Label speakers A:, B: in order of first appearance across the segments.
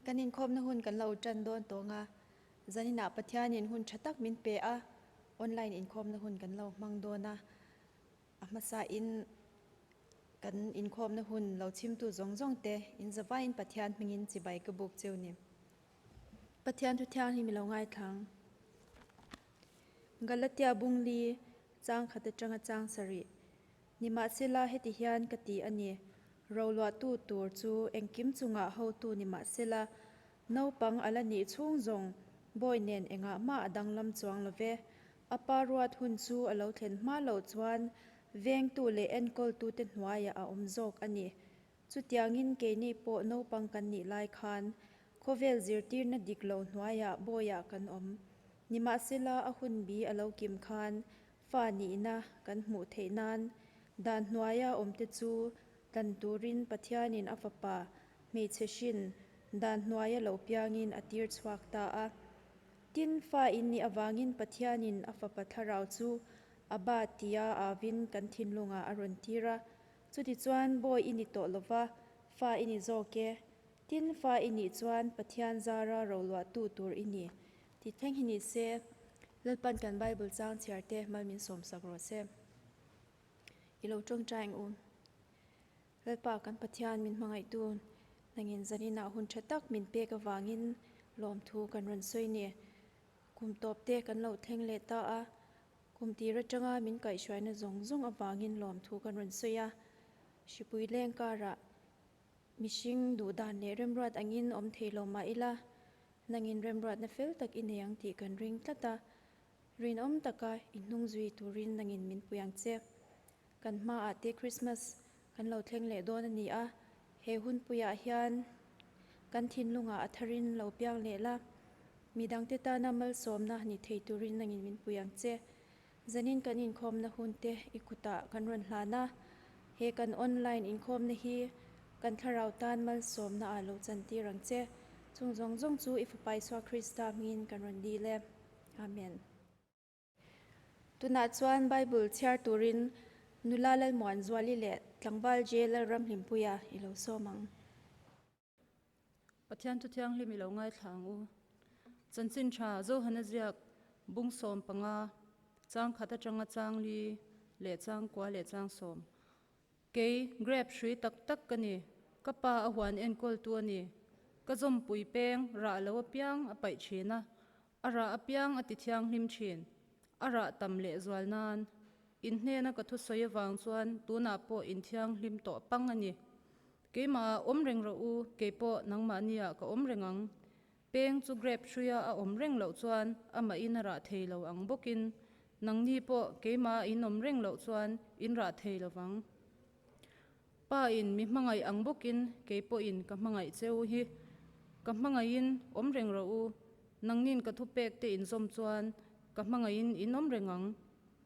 A: Kan inkhawmna hun kan lo ṭan dawn tawng a, zaninah Pathianin hun ṭha tak min pe a, online inkhawmna hun kan lo hmang dawn a. A hmasain kan inkhawmna hun lo chimtu zawng zawngte in zavaiin Pathian hmingin chibai ka buk cheu nih? Pathian thu thianghlim i lo ngaithlang. Galatia bungli chang khat atanga chang sarih. Nimahsela heti hian ka ti a ni, Roluahtu tur chu engkim chungah hotu ni mah sela, naupang a la nih chhung zawng bawi nen engah mah a danglam chuang lo ve. A pa ruat hun chu a lo thlen hma loh chuan vengtu leh enkawltute hnuaia a awm zawk a ni. Chutiangin keini pawh naupang kan nih lai khan khawvel zirtirna dik lo hnuaiah bawiah kan awm. Nimahsela a hun bi a lo kim khan fa nihna kan hmuh theih nan dan hnuaia awmte chu tlan turin Pathianin a fapa hmeichhe hrin dan hnuaia lo piangin a tir chhuak ta a. Tin, fa in nih avangin Pathianin a fapa thlarau chu a bat tia avin kan thinlungah a rawn tir a, Chuti chuan Bawi i ni tawh lo va, Fa i ni zawk e, tin Fa i nih chuan Pathian zara roluahtu tur i ni, ti thleng hi ni se, Lalpan kan Bible chang chhiar te mal min sawm sak rawh se. I lo tawngtaing u. Lalpa kan Pathian min hmangaihtu nangin zan inah hun tha tak min pek avangin lawmthu kan rawn sawi ni. Kum tawp te kan lo thleng leh ta a. Kum tir atanga min kaihhruaina zawng zawng avangin lawmthu kan rawn sawi a. Hripui leng karah mihring duh dan leh remruat angin awm thei lo mah ila, nangin remruatna fel tak i nei ang tih kan ring tlat a. Rinawm taka i hnung zui turin nangin min pui ang che. Kan hma ah te Christmas kan lo thleng leh dawn a ni a, he hunpui ah hian kan thinlung ah a thar in lo piang leh la, mi dang te tan a malsawm na ni thei tur in lang in min pui ang che. Zan in kan
B: inkhawm na hun te i kut ah kan rawn hlan a, he kan online inkhawm na hi kan thlarau tan malsawm na ah lo chan tir ang che. Chung zawng zawng chu i fapa Isua Krista hming in kan rawn dil e. Amen. Tunah chuan Bible chhiar turin nula Lalmuanzuali leh tlangval J. Lalramhlimpuia i lo sawm ang. Pathiantu thianghlim i lo ngaithla ang u. Chanchin tha, Johana ziak, bung sawm panga, chang khat atanga chang li leh chang kua leh chang sawm. Kei, grape hrui tak tak ka ni, ka pa a huan enkawltu a ni. Ka zawmpui peng rah lo apiang a paih thin a, A rah apiang a ti thianghlim thin. A rah tam lehzual nan in hnena ka thu sawi avang chuan tunah pawh in thianghlim tawh pang a ni. Keimah ah awm reng rawh u, kei pawh nangmah ni ah ka awm reng ang. Peng chu grab hruia a awm reng loh chuan amah in a rah thei lo ang bawk in nangni pawh keimah a in awm reng loh chuan in rah thei lo vang. Pa in mi hmangaih ang bawkin kei pawh in ka hmangaih che u hi. Ka hmangaih in awm reng rawh u. Nangnin ka thu pek te inzawm chuan ka hmangaih in in awm reng ang.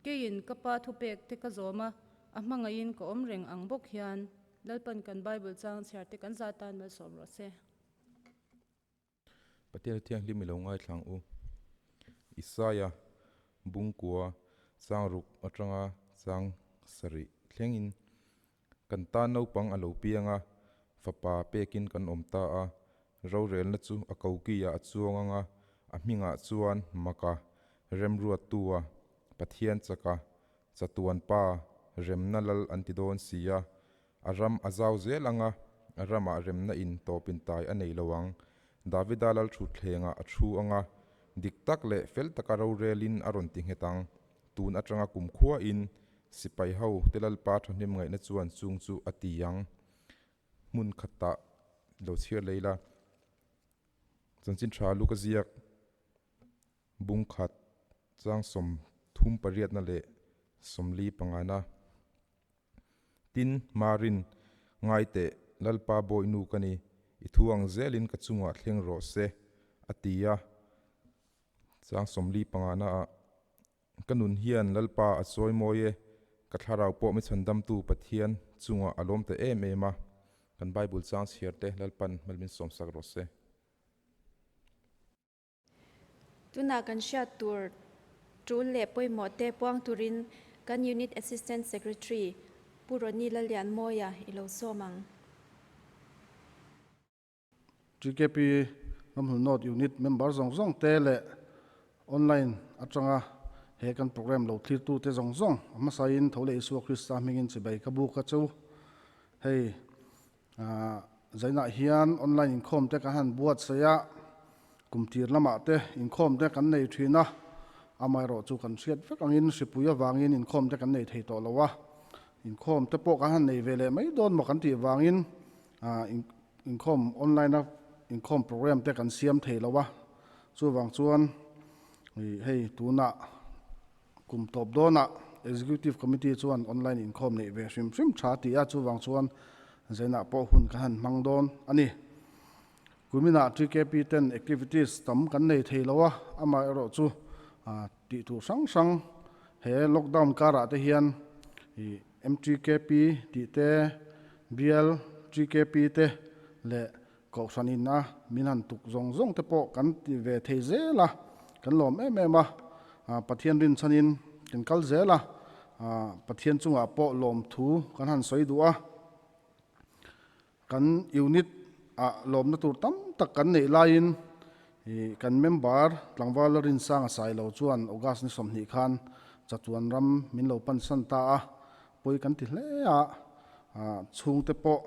B: Kei in ka pa thu pek te ka zawm a, a hmangaih in ka awm reng ang bawk hian. Lalpan kan Bible chang chhiar te kan zat tan mal sawm rawh se.
C: Pathian a thianghlim i lo ngaithlang u. Isaiah bungkua changruk atanga chang sarih thlengin, Kan tan naupang a lo piang a, fapa pekin kan awm ta a, rorelna chu a kokiah a chuang ang a, a hmingah chuan maka remruattua Pathian chaka chatuanpa remna lal an ti dawn sia, A ram a zau zel ang a, a ramah remna in tawp in tai a nei lo ang. Davida lal thutthlengah a thu ang a, dik tak leh fel taka rorel in a rawn ti nghet ang. Tun atanga kumkhua in sipai ho te Lalpa thahnem ngaihna chuan chung chu a ti ang. Hmun khat tah lo chhiar lei la, chanchin tha luka ziak, bung khat, chang sawm thum pariatna leh sawmli pangana, Tin, Marin, ngai teh, Lalpa Bawi nu ka ni, i thu ang zelin ka chungah thleng rawh se, a ti a. Chang Sawmli pangana ah, Ka nun hian Lalpa a chawi mawi e, ka thlarau pawh Michhandamtu Pathian chungah a lawm ta em em a. Kan Bible chang chhiarte Lalpa'n hmelmin sawmsak rawh se.
A: Tunah kan hriat tur tul leh pawimawh te puang turin kan Unit Assistant Secretary Pu Ronnie Lalianmawia i lo sawm ang.
D: GKP Hlawmhnu Note Unit member zawng zawng te leh online atanga he kan program lo thlirtu te zawng zawng a hmasa in tho leh Isua Krista hmingin chibai ka buk a chu. Hei Zainah hian online inkhawm te ka han buatsaih a, kum tir lamah te inkhawm te kan nei thin a, amaherawh chu kan hriat vek angin hripui avangin inkhawm te kan nei thei tawh lo a, inkhawm te pawh ka han nei ve leh mai dawn maw kan tih vangin inkhawm online a inkhawm program te kan siam thei lo a, chuvang chuan hei tunah Kum tawp dawnah Executive Committee chuan online inkhawm neih ve hrim hrim tha a ti a, chuvang chuan zainah pawh hun kan han hmang dawn a ni. Kuminah TKP ten activities tam kan nei thei lo a, amaherawh chu tih tur hrang hrang he lockdown karah te hian MTKP tih te, BLTKP te leh Kohhran inna min han tuk zawng zawng te pawh kan ti ve thei zel a, kan lawm em em a, Pathian rinchhan in kan kal zel a, Pathian chungah pawh lawmthu kan han sawi duh a. Kan unit ah lawmna tur tam tak kan neih lai in kan member tlangval la rinsang a sai lo chuan August ni sawmhnih khan chatuan ram min lo pansan ta a, pawi kan ti hle a, chhungte pawh.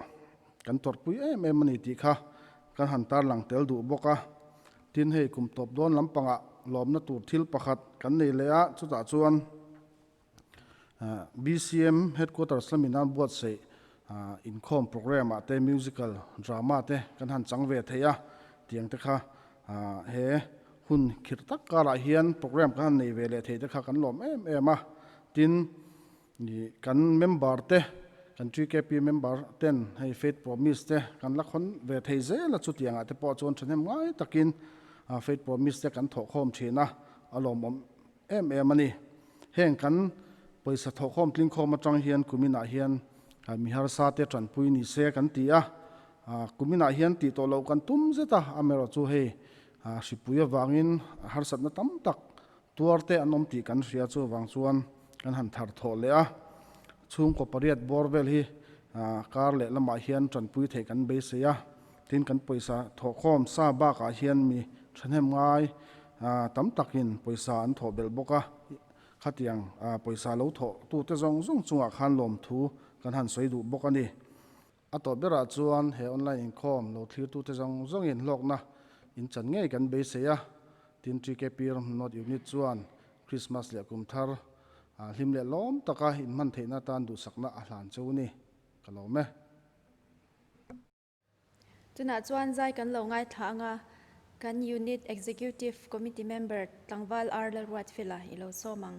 D: Kan tawrhpui em em a ni tih kha kan han tarlang tel duh bawk a. Tin, hei kum tawp dawn lampangah lawmna tur thil pakhat kan nei leh a, chutah chuan BCM Headquarters lamin a buatsaih inkhawm programme-ah te musical drama te kan han chang ve thei a, tiang te kha he hun khirh tak karah hian programme kan han nei ve leh thei te kha kan lawm em em a. Tin, Ni kan member te kan GKP member ten hei faith promise te kan la khawn ve thei zel a chutiang ah te pawh chuan thahnem ngai tak in faith promise te kan thawhkhawm thin a a lawmawm em em a ni heng kan pawisa thawhkhawm tlingkhawm atang hian kumin ah hian mi harsa te tanpui ni se kan ti a kumin ah hian tih tawh loh kan tum zet a amerawh chu hei hripui avang in harsatna tam tak Tuarte an awm tih kan hria chu vang chuan kan han thar thawh leh a, chhungkaw pariat bawr vel hi kar leh lamah hian tanpui theih kan beisei a, tin kan pawisa thawhkhawm sa bakah hian mi thahnem ngai tam takin pawisa an thawh belh bawk a, khatiang pawisa lo thawh tute zawng zawng chungah khan lawmthu kan han sawi duh bawk a ni. A tawp berah chuan he online inkhawm lo thlirtute zawng zawngin hlawkna inchan ngei kan beisei a, tin Twickapir Hmnawt Unit chuan Krismas leh Kum Thar hlim leh lawm taka inhman theihna atan duhsakna a hlan che u ni, ka lawm e.
A: Tunah chuan zai kan lo ngaithla anga kan Unit Executive Committee Member Tlangval Arlalruatfela i lo sawm ang.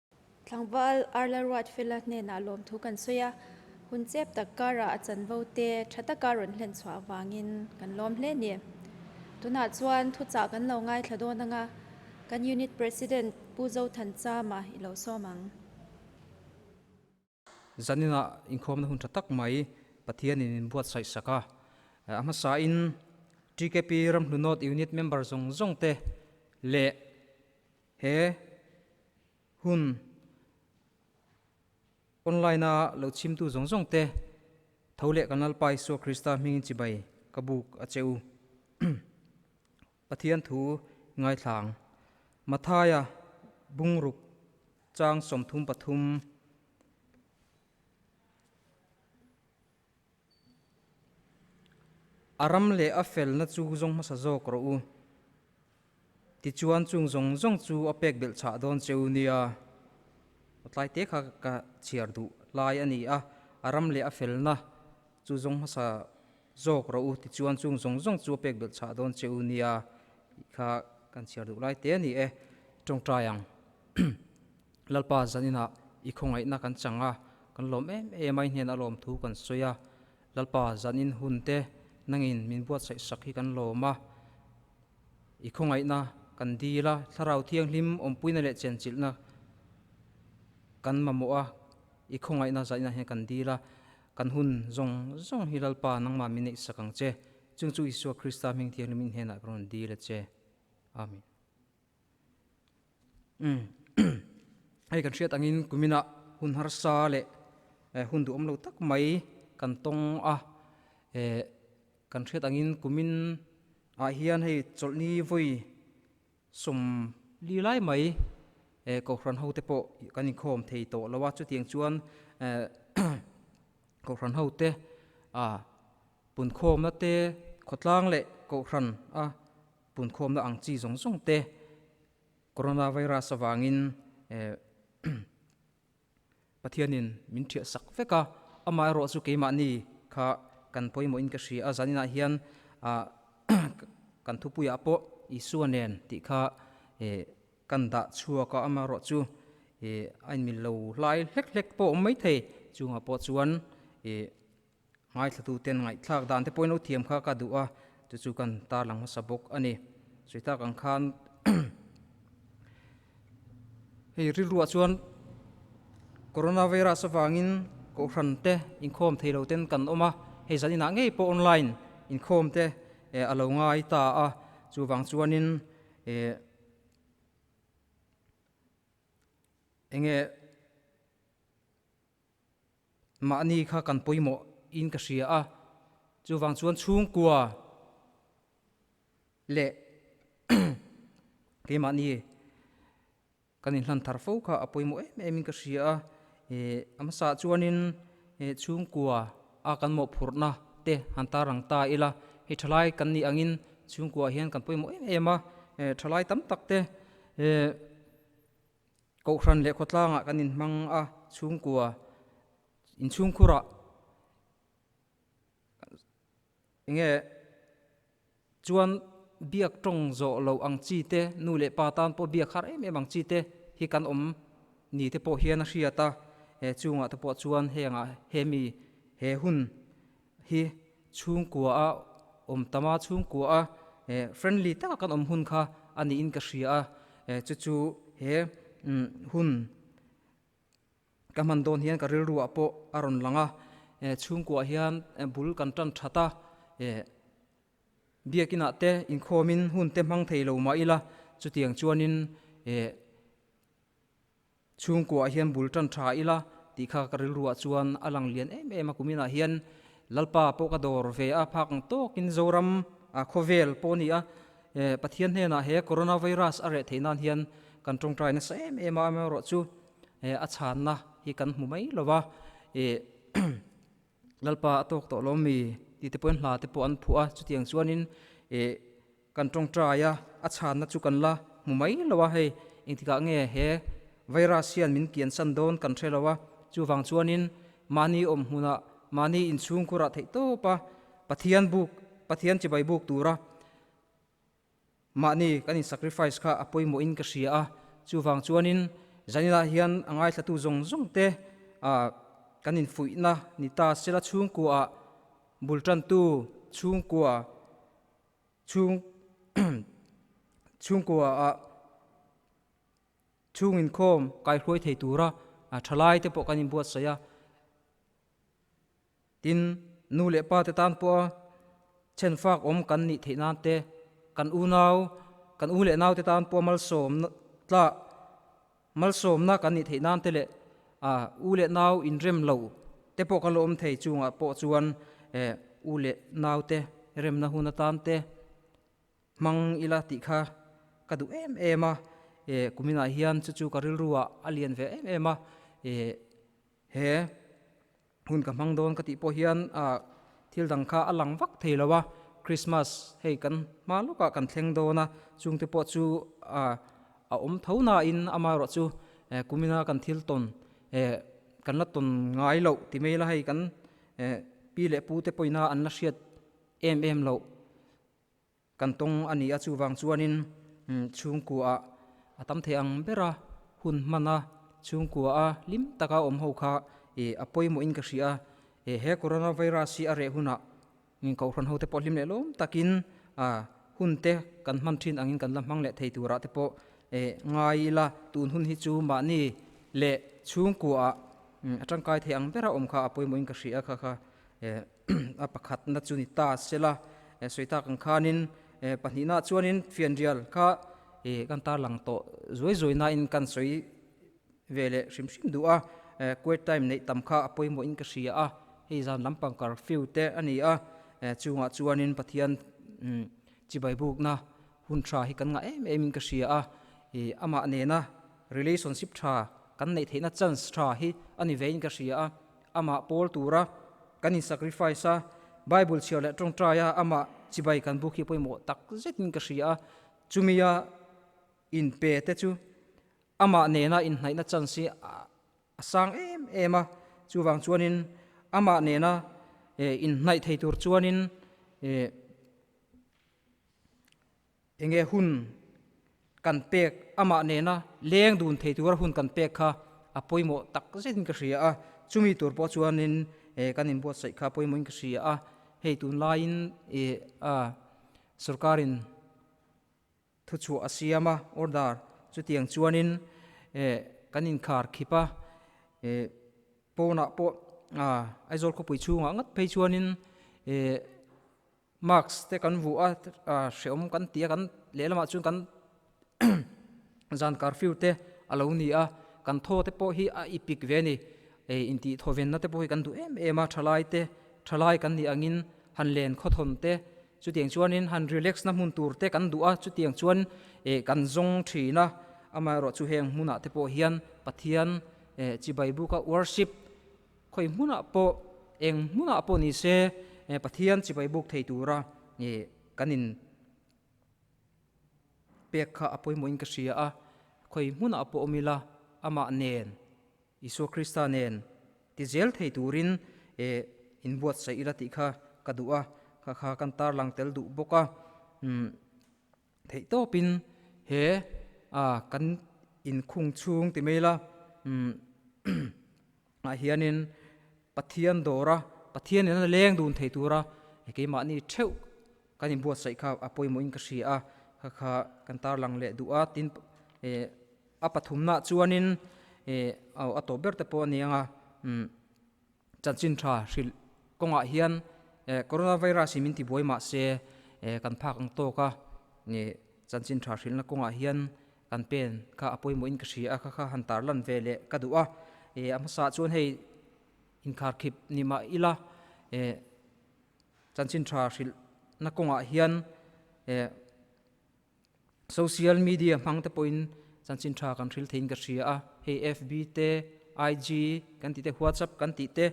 A: Tlangval arla ruat fela hnenah lawmthu kan sawi a, hun chep tak karah a chanvo te tha taka rawn hlen chhuah avangin kan lawm hle ni. Tunah chuan thuchah kan lo ngaithla dawn anga kan unit president Pu Zothan Chama i lo sawm ang.
E: Zanina inkhuamna hun tha tak mai Pathianin in buatsaih sak a. A hmasain GKP ramhlu North Unit member zawng zawng te leh he hun online a lo chimtu zawng zawng te tho leh kan Lalpa Isua Krista hmingin chibai ka buk a che u. Pathian thu ngaithlang. Mathaia bungruk chang sawmthum pathum A ram leh a felna chu zawng hmasa zawk rawh u. Tichuan chung zawng zawng chu a pek belhchhah dawn che u nia. Tlai te kha ka chhiar duh lai a ni a, a ram leh a felna chu zawng hmasa. Zawk rawh u tichuan chung zawng zawng chu a pek belh chhah dawn che u nia tih kha kan chhiar duh lai te a ni e. Tawngtai ang, Lalpa Zaninah i khawngaihna kan chang a, kan lawm em em a, i hnenah lawm thu kan sawi a, Lalpa Zanin hun te nangin min buatsaih sak hi kan lawm a, i khawngaihna kan dil a, Thlarau Thianghlim awmpuina leh chenchilhna kan mamawh a, i khawngaihna Zaninah hian kan dil a, Kan hun zawng zawng hi Lalpa nangmah min neihsak ang che, chung chu Isua Krista hming thiangin min hnenah ka rawn dil a che. Amen. Hei kan hriat angin kuminah hun harsa leh hun duhawm lo tak mai kan tawng a, kan hriat angin kumin ah hian hei chawlhni vawi Sawm li lai mai eh, Kohhran hote pawh kan inkhawm thei tawh lo a, chutiang chuan Kohhran hote a punkhawmna te, khawtlang leh Kohhran a punkhawmna ang chi zawng zawng te Coronavirus avangin eh, Pathianin min ṭhiah sak vek a, amah erawh chu keimahni kha kan pawimawhin ka hria a, zaninah hian kan thupuiah pawh Isua nen tih kha kan dah chhuak a, amah erawh chu a inmil lo hlai hlek hlek pawh awm maithei chungah pawh chuan Ngaithlatute'n ngaihthlak dan te pawhin uthiam kha ka duh a, chu chu kan tarlang hmasa bawk a ni. Sawitak ang khan hei rilruah chuan Coronavirus avangin kohhran te inkhawm thei lo te'n kan awm a, hei zan inah ngei pawh online inkhawm te a lo ngai ta a, chuvang chuanin enge mahni kha kan pawimawh in ka hria a, chuvang chuan chhungkua leh keimahni kan inhlan thar fo kha a pawimawh em em in ka hria a, a hmasa chuanin chhungkua a kan mawhphurhna te han tarang ta ila hei thalai kan nih angin chhungkua hian kan pawimawh em em a, thalai tam tak te. Kohhran leh khawtlangah kan inhmang a, chhungkua inchhungkhurah eng nge chuan biak tawng zawh lo ang chi te, nu leh pa tan pawh biak har em em ang chi te hi kan awm ni te pawh hian a hriat a, he chungah te pawh chuan hengah hemi he hun hi chhungkua a awm tam a, chhungkua a friendly taka kan awm hun kha a niin ka hria a, chu chu he hun ka hman dawn hian ka rilruah pawh a rawn lang a, chhungkua hian bul kan tan that a, biak inah te inkhawm in hun te hmang thei lo mah ila chutiang chuan in Chhungkuaah hian bul tan tha ila tih kha ka rilru ah chuan a lang lian em em a, kumin ah hian Lalpa pawh ka dawr ve a, phak ang tawk in Zoram a khawvel pawh a ni a, Pathian hnenah he Coronavirus a reh theih nan hian kan tawngtai nasa em em a, amaherawh chu a chhanna hi kan hmu mai lo va, Lalpa a tawk tawh lawm mi tih te pawhin hla te pawh an phuh a, chutiang chuan in. Kan tawngtai a, a chhanna chu kan la hmu mai lo a, hei engtikah nge he virus hian min kiansan dawn kan hre lo a, chuvang chuanin mahni awm hmunah mahni inchhungkhurah theih tawp a Pathian buk, Pathian chibai buk tura mahni kan in sacrifice kha a pawimawhin ka hria a, chuvang chuanin zaninah hian a ngaithlatu zawng zawng te a kan infuihna ni ta sela chhungkuaah bultantu chhungkua, Chhung chhungkua ah chhung inkhawm kaihruai thei tura thalai te pawh kan inbuatsaih a. Tin, nu leh pa te tan pawha chhenfak awm kan nih theih nan te, kan unau, kan u leh nau te tan pawha malsawm tlak, Malsawmna kan ni theih nan te leh a u leh nau inrem lo te pawh ka lawm thei chungah pawh chuan e u leh nau te remna hun atan te hmang ila tih kha ka duh em em a, e kuminah hian chu chu ka rilruah a lian ve em em a, e he. Hun ka hmang dawn ka tih pawh hian ah thil dang kha a lang vak thei lo a, Christmas hei kan hma lawk ah kan thleng dawn a, chung te pawh chu ah a awm tho na in ama erawh chu eh kum ina kan thil tawn eh kan la tawn ngai loh ti mai ila hei kan eh pi leh pu te pawh ina an la hriat em em loh. Kan tawng a nia chuvang chuanin chhungkuaah a tam thei ang ber a, hun hmana chhungkua a hlim taka awm ho kha a pawimawhin ka hria, he coronavirus hi a reh hunah kohhran hote pawh hlim lehlawm takin hunte kan hman thin angin kan la hmang leh thei turah te pawh ngai ila tun hun hi chu mahni leh chhungkuaah a tangkai thei ang bera awm kha a pawimawhin ka hria kha kha. A pakhatna chu ni ta se la, e sawi tak ang khanin e pahnihna chuanin fianrial kha e kan tarlang tawh zuai zuai nain kan sawi ve leh hrim hrim duh a, e quit time neih tam kha a pawimawhin ka hria a, hei zan lampang kar fiu te a ni a, e chungah chuanin Pathian umm chibai bukna hun tha hi kan ngah em em in ka hria a, e amah nena relationship tha kan neih theihna chance tha hi a ni ve in ka hria a, Amah pawl tura kan in sacrifice a, Bible chhiar leh tawngtai a amah chibai kan buk hi pawimawh tak zetin ka hria a, chumi a in pe te chu amah nena in hnaihna chance hi a sang em em a, chuvang chuanin amah nena in hnaih thei tur chuanin Enge hun kan pek amah nena leng dun thei tura hun kan pek kha a pawimawh tak zetin ka hria a, chumi tur pawh chuanin eh kan inbuatsaih kha pawimawhin ka hria a, hei tunlaiin eh a sorkarin thuchhuah a siam a order chutiang chuanin eh kan inkhar khip a, eh pawnah pawh a Aizawl khawpui chhungah ngat phei chuanin eh Marx te kan vuh a hrehawm kan ti a, kan lehlamah chuan kan zankar fir te a lo ni a, kan thaw te pawh hi a ipik ve a ni, ei intih thawvenna te pawh hi kan duh em em a, thalai te thalai kan nih angin han len khawthawn te chutiang chuanin han relax na hmun tur te kan duh a, chutiang chuan eh kan zawng thin a, amaherawhchu heng hmunah te pawh hian Pathian eh chi Baibuka worship, Khawi hmunah pawh, eng hmunah pawh ni se, Pathian chibai buk thei tura kan in pek kha a pawimawhin ka hria a, khawi hmunah pawh awm ila Amah nen, Isua Krista nen tizel thei turin in buatsaih ila tih kha ka duh a, kha kha kan tarlang tel duh bawk a. theih tawpin he a kan inkhung chhung ti mai la ah hianin Pathian dawra Pathian in a leng dun thei tura keimahni theuh kan inbuatsaih kha a pawimawhin ka hria a kha kha kan tarlang leh duh a tin a pathumna chuanin aw a tawp ber te pawh a ni ang a. chanchin tha hrilh kawngah hian coronavirus i min ti buai mah se kan phak ang tawk a, chanchin tha hrilhna kawngah hian kan pen kha a pawimawhin ka hria kha kha han tarlan ve leh ka duh a, a hmasa ah chuan hei inkhar khip ni mah ila chanchin tha hrilhna kawngah hian. Social media hmang te pawhin chanchin tha kan hril theiin ka hria a, hei FB te, IG kan tih te, WhatsApp kan tih te,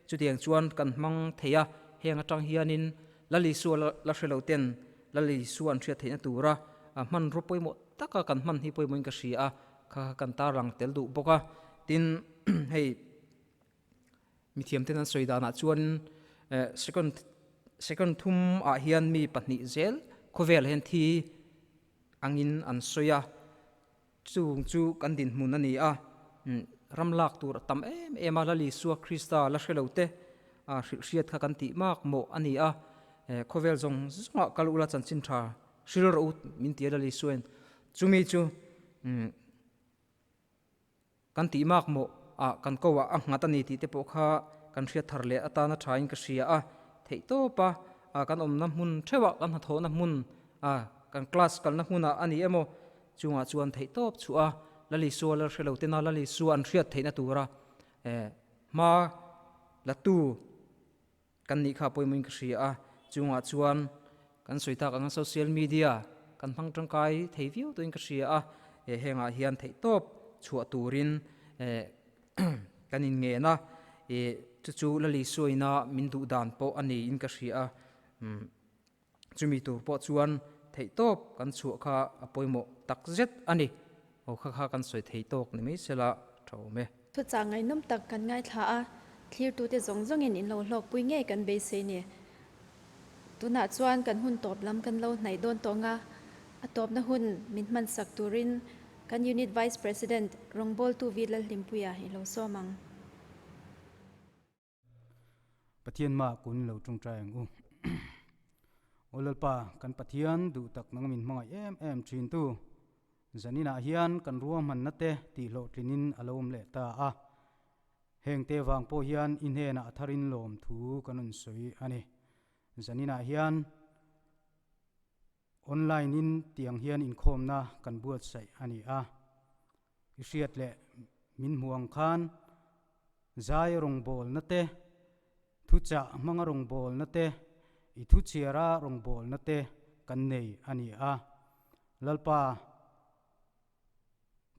E: chutiang chuan kan hmang thei a, heng atang hianin Lal Isua la hre lo ten Lal Isua an hriat theihna tura a hmanraw pawimawh taka kan hman hi pawimawhin ka hria a, kha kan tarlang tel duh bawk a, tin hei Mithiamten an sawi danah chuan second second thum ah hian mi pahnih zel khawvel hian thi angin an sawi a, chung chu kan dinhmun a ni a, ram lak tur a tam em em a, la Lisua Krista la hrelo te hrilhhriat kha kan tih mak maw a ni a, khawvel zawng zawngah kal ula chanchin tha hril rawh u min ti a la Lisuain chumi chu Kan tih mak maw a kan ko a nghat a ni tih te pawh kha kan hriat thar leh atana thain ka hria a theih tawp a a kan awmna hmun theuhah kan hnathawhna hmun a kan class kalna hmuna a ni em aw chungah chuan theih tawp chhuah a la li sual a hrelo tena la li su an hriat theihna tura e hma la tu Kan nih kha pawimawhin ka hria a, chungah chuan kan sawi tak anga social media kan hmang tangkai thei viau tawhin ka hria a, he hengah hian theihtawp chhuah turin kan inngen a, chu chu Lalisawina min duhdan pawh a niin ka hria a. chumi tur pawh chuan theihtawp kan chhuah kha a pawimawh takzet a ni. Aw kha kha kan sawi thei tawk ni mai se la, thawm e. Chutchah ngaihnawm
A: tak kan ngaithla a, thlirtute zawng zawngin in lo hlawkpui ngei kan beisei ni. Tunah chuan kan hun tawp lam kan lo hnaih dawn tawh nga, a tawpna hun min hmansak turin kan Unit Vice President Rawngbawltu Vila Hlimpuia i lo sawm ang.
F: Pathian mah kun lo ṭung ṭai ang u. Aw Lalpa, kan Pathian duh tak nang min hmangaih em em ṭhintu Zaninah hian kan rua hmanna te tihhlawhtlinin a lo awm leh ta a. Hengte vang pawh hian i hnenah a tharin lawm thu kan rawn sawi a ni. Zaninah hian Online-in tiang hian inkhawmna kan buatsaih a ni a, i hriat leh min hmuang khan zai rawngbawlna te, thuchah hmanga rawngbawlna te, i thuchhiara rawngbawlna te kan nei a ni a. Lalpa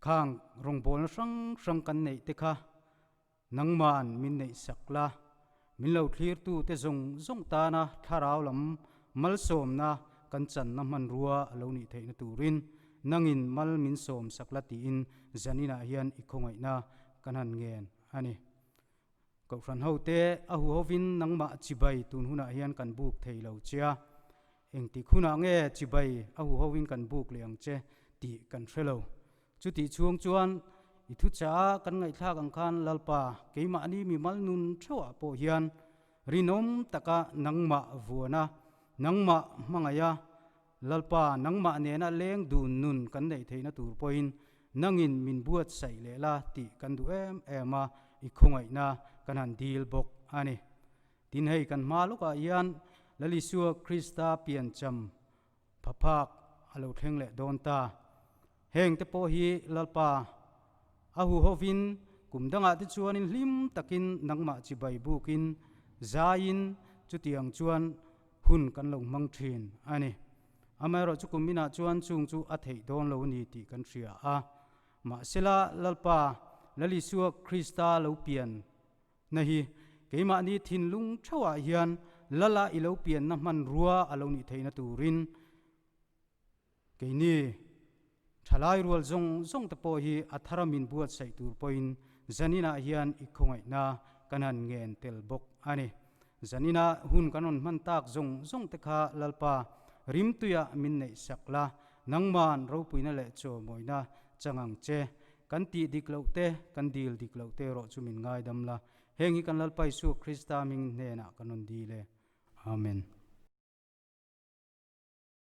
F: khang rawngbawlna hrang hrang kan neih te kha. Nangma'n min neih sak la, min lo thlirtute zawng zawng tana thlarau lam malsawmna kan channa hmanrua a lo nih theihna turin nangin mal min sawm sak la tiin zaninah hian i khawngaihna kan han ngen a ni. Kohhran hote a hu hovin nangmah chibai tun hunah hian kan buk thei lo che, engtik hunah nge chibai a hu hovin kan buk leh ang che tih kan hre lo. Chutih chhung chuan i thu caah kan ngaihthlak ang khan Lalpa, keimahni mimal nun theuhah pawh hian rinawm taka nangmah vuan a, nangmah hmangaih a, Lalpa, nangmah nena leng dun nun kan neih theihna tur pawhin nangin min buatsaih leh la tih kan duh em em a, i khawngaihna kan han dil bawk a ni. Tin hei kan hma lawkah hian Lalisua Krista piancham Phaphak a lo thleng leh dawn ta. Heng te pawh hi Lalpa a hu ho vin kum dangah te chuanin hlim takin nangmah chibai bukin zaiin chutiang chuan hun kan lo hmang thin a ni. Amaherawh chu kum inah chuan chung chu a theih dawn lo a ni tih kan hria a. Mahsela Lalpa Lalisua Krista lo pian Na hi keimahni thinlung theuhah hian Lala i lo pianna hmanrua a lo nih theihna turin keini thalai rual zawng zawng te pawh hi a thara min buatsaih tur pawhin zaninah hian i khawngaihna kan han ngen tel bawk a ni. Zanina hun kan rawn hman tak zawng zawng te kha Lalpa rimtuia min neih sak la, nangman ropuina leh chawmawina chang ang che. Kan tih dik loh te, kan dil dik loh te erawh chu min ngaidam la, heng hi kan Lalpa Isua Krista hming hnenah kan rawn dil e. Amen.